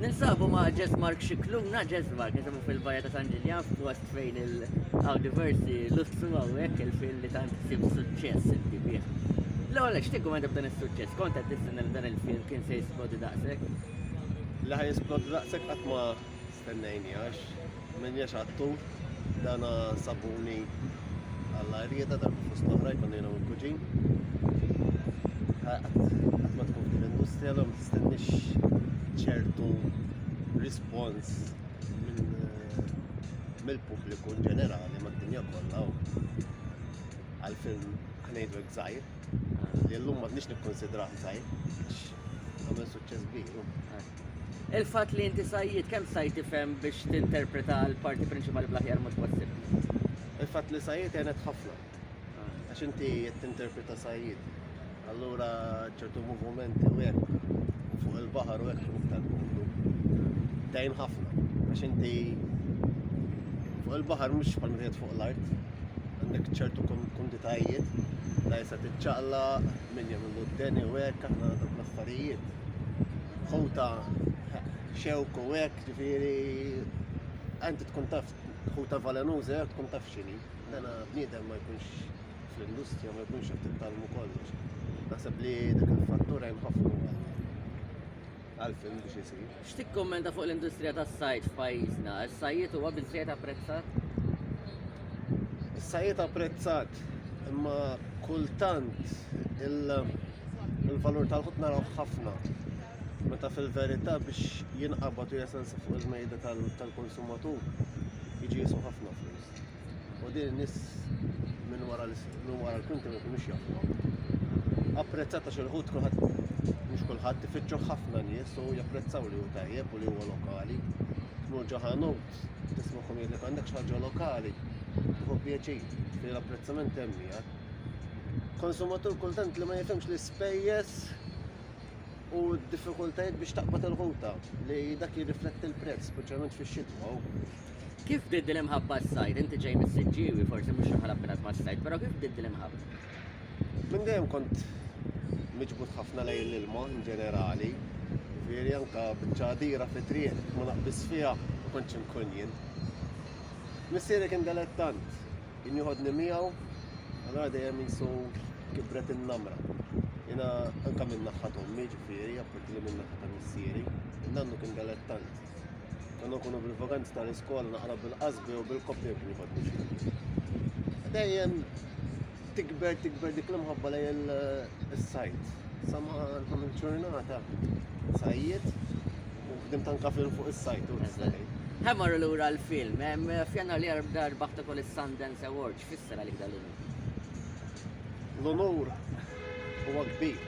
Ninsabu ma' Jess Mark Scicluna, Jess Mark, ninsabu fil-Baja ta' San Ġiljan f'post fejn il-għaw diversi lustru għawek il-fil li tant sim suċċess inti bih. L-għol għax tikku għandab dan il-suċċess, konta t-tissin dan il-fil kien se jisplodi daqsek? La ħaj jisplodi daqsek għatma Stennejnihax, minniex għattu, dana sabuni għalla rieda darba fost l-oħra jkun jiena u l-kuġin. Għat ma tkun f'din l-industrija l-għom tistennix ċertu rispons eh, mill-pubbliku in ġenerali mad-dinja kollha għal-film ħnejdu gżajr li l-lum ma nix nikkonsidraħ gżajr għamil suċċess biru. Il-fatt li inti sajjied kemm sajt tifhem biex tinterpreta l-parti prinċipali bl-aħjar mod possibbli? Il-fatt li sajjied għenet ħafna. Għax inti qed tinterpreta sajjied. Allura ċertu movimenti u hekk u fuq il-baħar u hekk iktar kumdu. Dejn ħafna. Għax inti fuq il-baħar mhux bħal meta fuq l-art. Għandek ċertu konditajiet la jisa tiċċaqla minn jagħmlu d-deni u hekk aħna dak l-affarijiet. ħuta xewk u hekk, ġifieri għanti tkun taf ħuta valenuża jekk tkun taf x'inhi. Dana bniedem ma jkunx fl-industrija ma jkunx qed tittalmu kollox. Naħseb li dak il-fattur hemm ħafna għal film biex isir. X'tikkummenta fuq l-industrija tas-sajd f'pajjiżna? Is-sajjied huwa biżżejjed apprezzat? Is-sajjied apprezzat, imma kultant il-valur tal-ħut narawh ħafna meta fil-verità biex jinqabad u jesensa fuq il-mejda tal-konsumatur jiġi jiswa ħafna flus. u din in-nies minn wara minn wara l-kwinti ma jkunux jafuha. Apprezzata xi ħut kulħadd mhux kulħadd ifittxu ħafna nies u japprezzaw li hu tajjeb u li huwa lokali. Tmur ġo ħanut, tisma' kum jgħidlek għandek xi ħaġa lokali, tieħu pjaċir li l-apprezzament hemm miegħek. Konsumatur kultant li ma jifhimx l-ispejjeż u d-diffikultajiet biex taqbad il-ħuta li dak jirrifletti l-prezz, speċjalment fix-xitwa. Kif bdiet din l-imħabba s-sajd? Inti ġej mis-Siġġiewi, forsi mhux xi ħala b'inat mas-sajd, però kif bdiet din l-imħabba? Minn dejjem kont miġbud ħafna lejn l-ilma in ġenerali. Veri anka bċadira fi triq ma naqbis fiha u kontx inkun jien. Missieri kien delettant, kien joħodni miegħu, allora dejjem jisu kibret in-namra. Jena anka minn naħħa tommi ġifieri, appunti li minn naħħa ta' missieri, nannu kien delettant. Għanna nkunu bil-vaganti tal-iskola naqra bil-qasbi u bil-koppja kien jibad biex jibad. Dejjem tikber, tikber dik l-imħabba lej il-sajt. Sama l-ħam il-ġurnata, sajjiet, u fdim tanka film fuq il-sajt u l-ħazzanej. Hemmar l-ura l-film, fjanna li għarb dar baħta kol il-Sundance Awards, fissera li dal-unur. L-unur huwa kbir.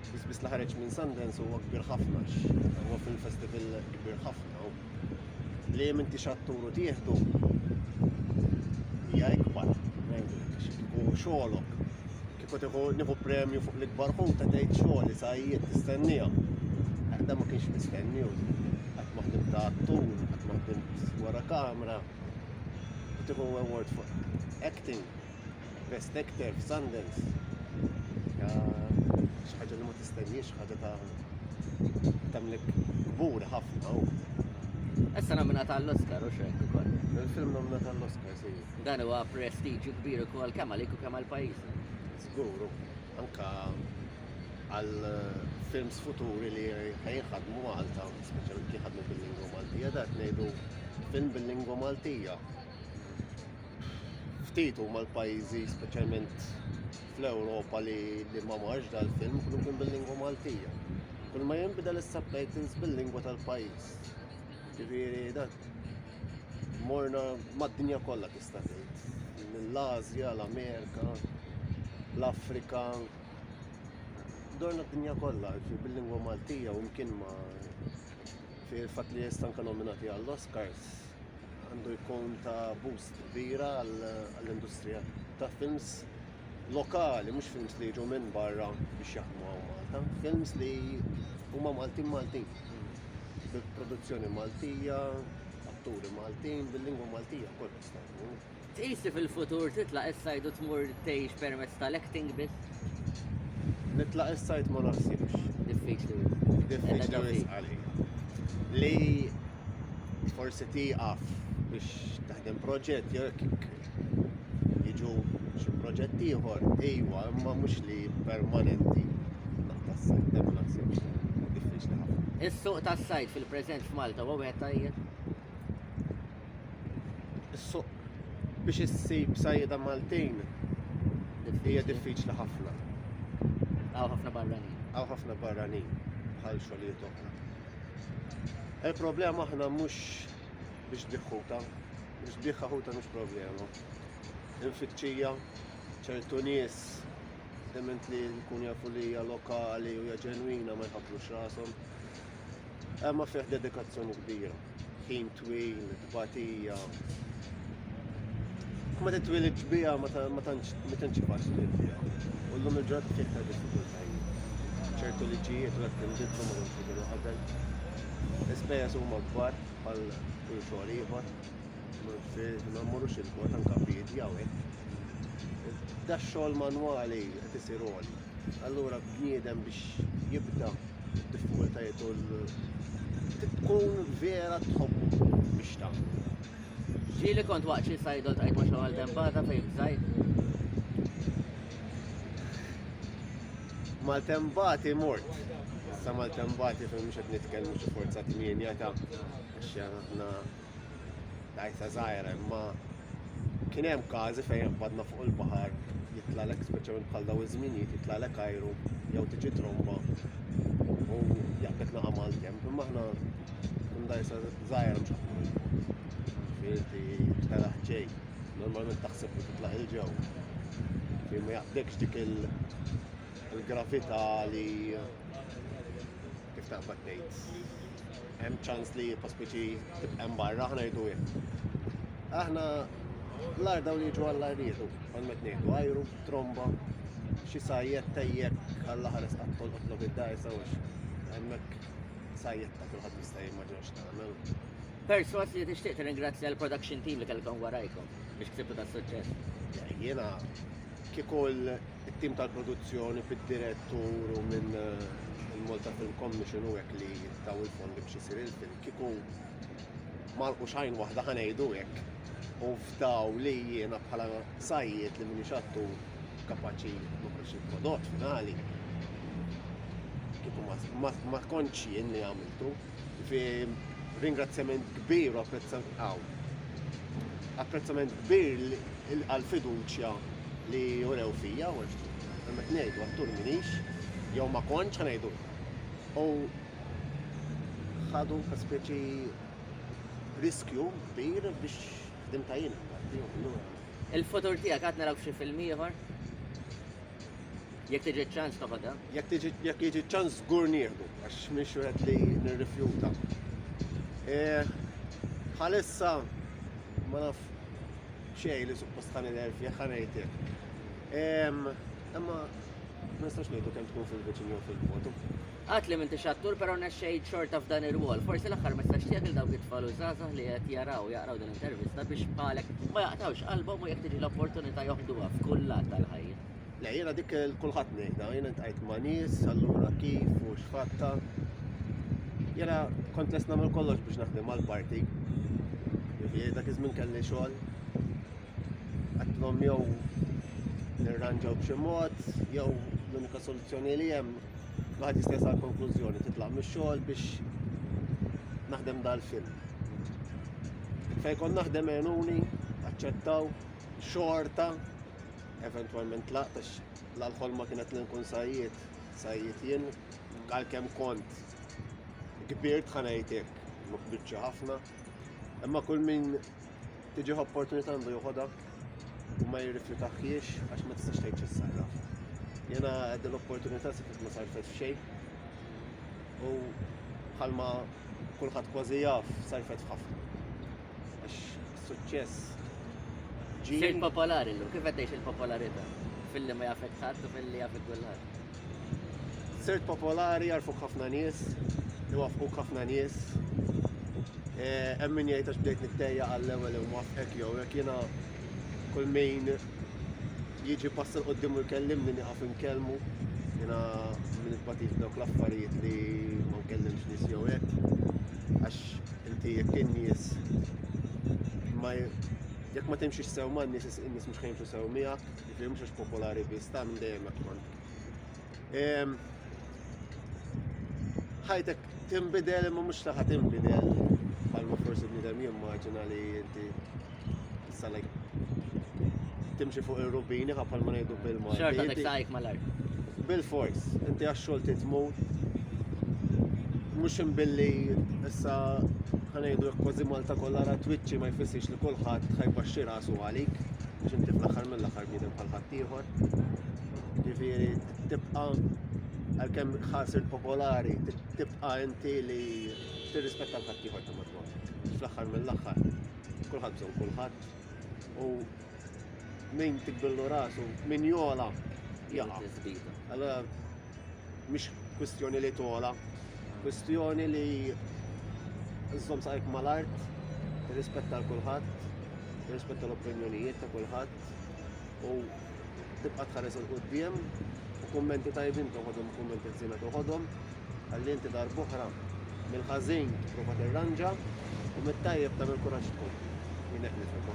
L-ispiss li ħareġ minn Sundance huwa kbir ħafna, huwa film festival kbir ħafna. Li jem inti xatturu tieħdu hija ikbar, u xogħolok. Kieku tieħu nieħu premju fuq l-ikbar ħut ta' tgħid xogħol li sajjiet tistennija. Għadda ma kienx mistenniju. Qatt maħdim ta' attur, qatt maħdim wara kamera. Tieħu award fuq acting. Best Actor f'Sundance. Ja, xi ħaġa li ma tistenniex, ħaġa ta' tamlek kbur ħafna. Issa nomina tal-Oscar u xejn ukoll. Il-film nomina tal-Oscar si. Dan huwa prestiġju kbir ukoll kemm għalik u kemm għall-pajjiż. Żgur, anka għal eh, films futuri li ħajħadmu Malta, speċjalment li ħadmu bil-lingwa Maltija, dat ngħidu film bil-lingwa Maltija. ftit huma l-pajjiżi speċjalment fl-Ewropa li li ma marx dal-film kullu kien bil-lingwa Maltija. Kull ma jinbidel is-subtitles bil-lingwa tal-pajjiż. Ġifieri dan morna mad-dinja kollha tista' tgħid. Mill-Asja, l-Amerika, l-Afrika, dorna d-dinja kollha bil-lingwa Maltija u mkien ma fil-fatt li jista' anke nominati għall-Oscars għandu jkun ta' boost kbira għall-industrija ta' films lokali, mhux films li jiġu minn barra biex jaħdmu għaw Malta, films li huma Maltin Maltin. Bil-produzzjoni Maltija, atturi Maltin, bil-lingwa Maltija, kol Tqis li fil-futur titlaq is-sajd u tmur tgħix permezz tal-acting biss? Nitlaq is-sajd ma naħsibx. Diffiċli wisq. Diffiċli wisq għalija. Li forsi tieqaf biex taħdem proġett jew jiġu xi proġett ieħor, ejwa, imma mhux li permanenti naqtas sajdem naħseb diffiċli ħafna. Is-suq tas-sajd fil-preżent f'Malta huwa wieħed tajjeb? Is-suq biex issib sajjeda Maltin hija diffiċli ħafna. Għaw ħafna barranin. Għaw ħafna barranin bħal xogħlijiet oħra. Il-problema aħna mhux biex biħħuta, biex biħħuta mhux problema. Infittxija ċertu nies dement li jkun jafu li hija lokali u hija ġenwina ma jħabbux rashom. Imma fih dedikazzjoni kbira, ħin twil, tbatija. Ma titwil iġbija ma tantx faċli fiha. U llum il-ġodda fih ta' diffikultajiet. ċertu liġijiet u għed tinbidlu ma kienx kienu qabel. Ispejjeż huma kbar għal kull xogħol ieħor. Ma mmorrux il-bot anke bidja u hekk. Da xogħol manwali qed isir għoli. Allura bniedem biex jibda d-diffikultajiet u tkun vera tħobbu biex tagħmlu. Ġieli kont waqt xi sajdol tajt ma' xogħol tempata fejn bżajt. Maltembati mort. Sa maltembati fejn mhux qed nitkellmu xi forza tmienja ta' għax aħna Dajsa żgħira, imma kien hemm każi fejn jaqbadna fuq il-baħar jitlalek speċjalment bħal daw iż-żminijiet jitlalek ajru jew tiġi tromba u jaqbek naqa' mal-kemm. Imma aħna kun dajsa żgħira mhux ħafna minn fuq. Firti telaħ ġej, normalment taħseb li titlaq il-ġew. Kien ma jaqbdekx dik il-gravità li Kif taf qed ngħid, hemm ċans li pospeċi tibqa' barra aħna jdu hekk. Aħna l-ar dawn jiġu għall-ar jieħdu, għal met ngħidu ajru, tromba, xi sajjet tejjek għall-aħar isqaq tolqotlu bid-dajs għax hemmhekk sajjet ta' kulħadd jista' jimmaġina x'tagħmel. Perswas li tixtieq tirringrazzja l-production team li kellkom warajkom biex ksibtu tas-suċċess. Jiena kieku It-tim tal-produzzjoni fid-dirett u minn il-Malta Film Commission u hekk li taw il-fondi biex isir il-film kieku marqu xajn waħda ħanejdu hekk. U fdaw li jiena bħala sajjiet li minix xattu kapaċi noħroġ il-prodott finali. Kieku ma tkontx jien li għamiltu. Fi ringrazzjament kbir u apprezzament kbir għall-fiduċja li urew fija, u għamet nejdu għattur minix, jew ma konċ għanajdu. U ħadu ta' speċi riskju kbir biex dim tajjina. Il-futur tijak għadna raw xie film ieħor? Jekk tiġi ċ-ċans ta' fada? Jekk tiġi jekk jiġi ċ-ċans żgur nieħdu għax mhix wieħed li nirrifjuta. E, bħalissa ma naf xejn li suppost ħan il-erf jekk ħanejtek. Imma ma nistax ngħidu kemm tkun fil-viċin jew fil-foto. Għat li minti xattur pero nexxejt xorta f'dan ir-rwol. Forsi l-aħħar ma stax tiegħek il dawk it-tfal u żgħażagħ li qed jaraw jaqraw din l-intervista biex bħalek ma jaqtawx qalbhom u jekk tiġi l-opportunità joħduha f'kull lat tal-ħajja. Le, jiena dik il-kulħadd ngħidha, jiena ntqajt ma' nies, allura kif u x'fatta. Jiena kont lest nagħmel kollox biex naħdem għall-parti. Jiena dak iż-żmien kelli xogħol. Għattlhom jew nirranġaw b'xi mod, jew l-unika soluzzjoni li hemm Għad jistess għal konklużjoni titlaq mis xogħol biex naħdem dal-film. Fejkon naħdem għenuni, aċċettaw, xorta, eventwalment tlaqt għax l-ħolma kienet li nkun sajjiet, sajjiet jien, għalkemm kont kbirt ħanajtek, ma kbirtx ħafna. Imma kull min tiġi opportunità għandu joħodha u ma jirrifjutaħiex għax ma tistax tgħid x'issarra. Jena din l-opportunità se ma sarfet f'xejn. U bħalma kulħadd kważi jaf sarfet ħafna. Għax suċċess ġie. Sirt popolari llum, kif qed tgħix il-popolarità? Filli ma jafek ħadd u filli jafek kulħadd. Sirt popolari jarfuk ħafna nies, iwaffquk ħafna nies. Eh, hemm min jgħid għax bdejt nittejja għall-ewwel imwaffqek jew hekk jiena kull min jiġi passa l-qoddim u jkellimni niqaf nkellmu. Jena minn il-patit dawk l-affarijiet li ma nkellimx nis jew hekk. Għax inti jekk in-nies ma jekk ma timxiex sew ma n-nies in-nies mhux ħajmxu sew miegħek, jiġifieri mhux għax popolari biss ta' minn dejjem hekk kont. Ehm, ħajtek tinbidel imma mhux li ħadd inbidel bħalma forsi bniedem jimmaġina li inti Salek. Timxi fuq ir-rubini ħappal ma ngħidu bil-ma. Xorta dik sajk mal-art. Bil-fors, inti għax-xogħol titmur. Mhux imbilli issa ħanejdu jekk kważi Malta kollha ra twiċċi ma jfissirx li kulħadd ħajbaxxi rasu għalik biex inti fl-aħħar mill-aħħar bniedem bħal ħadd ieħor. Ġifieri tibqa' għalkemm ħasir popolari, tibqa' inti li tirrispetta l-ħadd ieħor ta' madwar. Fl-aħħar mill-aħħar. Kulħadd bżonn kulħadd u min tikbillu rasu, min jola jaqa'. Allora mhix kwistjoni li tola, kwistjoni li żżomm saqajk mal-art, rispetta l kulħadd, rispetta l-opinjonijiet ta' kulħadd u tibqa' tħares il-qudiem u kummenti tajbin toħodhom, kummenti ħżiena toħodhom. Ħalli inti darb'oħra mill-ħażin tipprova tirranġa u mit-tajjeb tagħmel kuraġġ tkompli. Jien hekk nifhimha.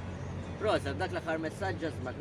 Proset, dak l-aħħar messaġġ ġasmak.